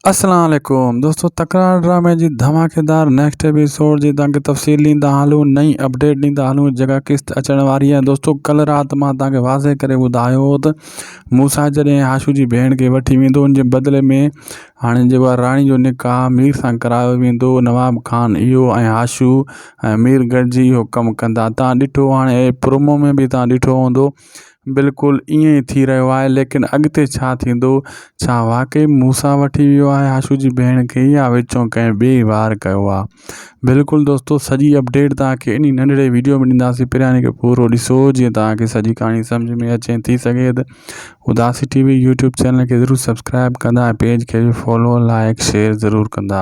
اسلام عليڪم دوستو تڪرار ڊرامي جي ڌماڪيدار نيڪسٽ ايپيسوڊ جي تانکي تفصيل ڏيندا هلون نئين اپڊيٽ ڏيندا هلون جيڪا قسط اچڻ واري آهي دوستو ڪل رات مان تانکي واضح ڪري ٻڌايو هو ته موسا جڏهن هاشو جي ڀيڻ کي وٺي ويندو ان جي بدلي ۾ هاڻي جيڪو آهي راڻي جو نڪاح مير سان ڪرايو ويندو نواب خان اهو ۽ هاشو ۽ مير گڏجي اهو ڪم ڪندا تان ڏٺو هاڻي پرومو ۾ به تان ڏٺو هوندو بلڪل ائين ئي ٿي رهيو آهي ليڪن اڳتي ڇا ٿيندو ڇا واقعي موسا وٺي ويو آهي آشو جي ڀيڻ کي يا وچون ڪنهن ٻئي وار ڪيو آهي بلڪل دوستو سڄي اپڊيٽ توهانکي انهي ننڍڙي ويڊيو ۾ ڏينداسين پرياني کي پورو ڏسو جيئن توهانکي سڄي ڪهاڻي سمجهه ۾ اچي ٿي سگهي ته اداسي ٽي وي يوٽيوب چينل کي ضرور سبسڪرائب ڪندا ۽ پيج کي به فالو لائڪ شيئر ضرور ڪندا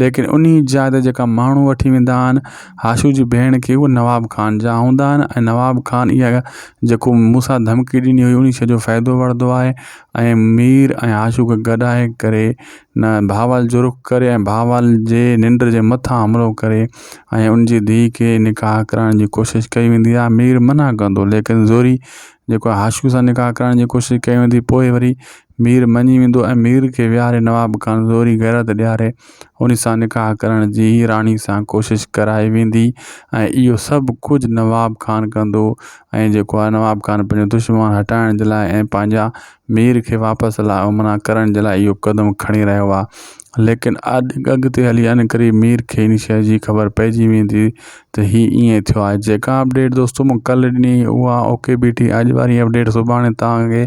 ليڪن انهي جاء تي جيڪا ماڻهو وٺي ويندا آهن هاشو جي ڀيڻ کي اهي نواب خان جا هوندا آهن ۽ نواب خان اها جيڪو مون سان ڌمڪي ڏني هئي انهي شيء جو فائدو وٺدو آهي ۽ مير ۽ هاشو کي گڏائي ڪري نه بهاول جو رخ ڪري ۽ بهاول جي ننڊ جي مٿان حملو ڪري ۽ ان جي ڌيء کي نڪاح ڪرائڻ جي ڪوشش ڪئي ويندي آهي مير منع ڪندو ليڪن زوري جيڪو هاشو سان نڪاح ڪرائڻ جي ڪوشش ڪئي ويندي پوء وري مير مڃي ويندو ۽ مير کي ويهاري نواب کان زوري غيرت ڏياري ان سان نڪاح ڪرڻ جي راڻي سان ڪوشش ڪرائي ويندي ۽ اهو سڀ ڪجهه نواب خان ڪندو ۽ جيڪو آهي نواب خان پنهنجو دشمن هٽائڻ جي لاء ۽ پنهنجا مير کي واپس لاء امنا ڪرڻ جي لاء اهو قدم کڻي رهيو آهي ليڪن اڳتي هلي ان قريب مير کي ان شيء جي خبر پئجي ويندي ته هي ائين ٿيو آهي جيڪا اپڊيٽ دوستو مون ڪلهه ڏني هئي اها اوڪي بيٺي اڄ واري اپڊيٽ سڀاڻي تان کي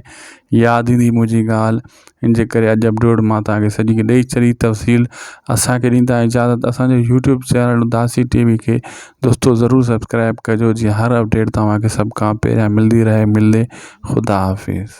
ياد ايندي منهنجي ڳالهه ان جي ڪري اڄ اپلوڊ مان تاکي سڄي کي ڏئي چري تفصيل اسانکي ڏيندا اجازت اسانجو YouTube channel Dasi T V کي دوستو ضرور سبسڪرائب ڪجو جي هر اپڊيٽ توهانکي سڀ کان پهريان ملدي رهي ملي خدا حافظ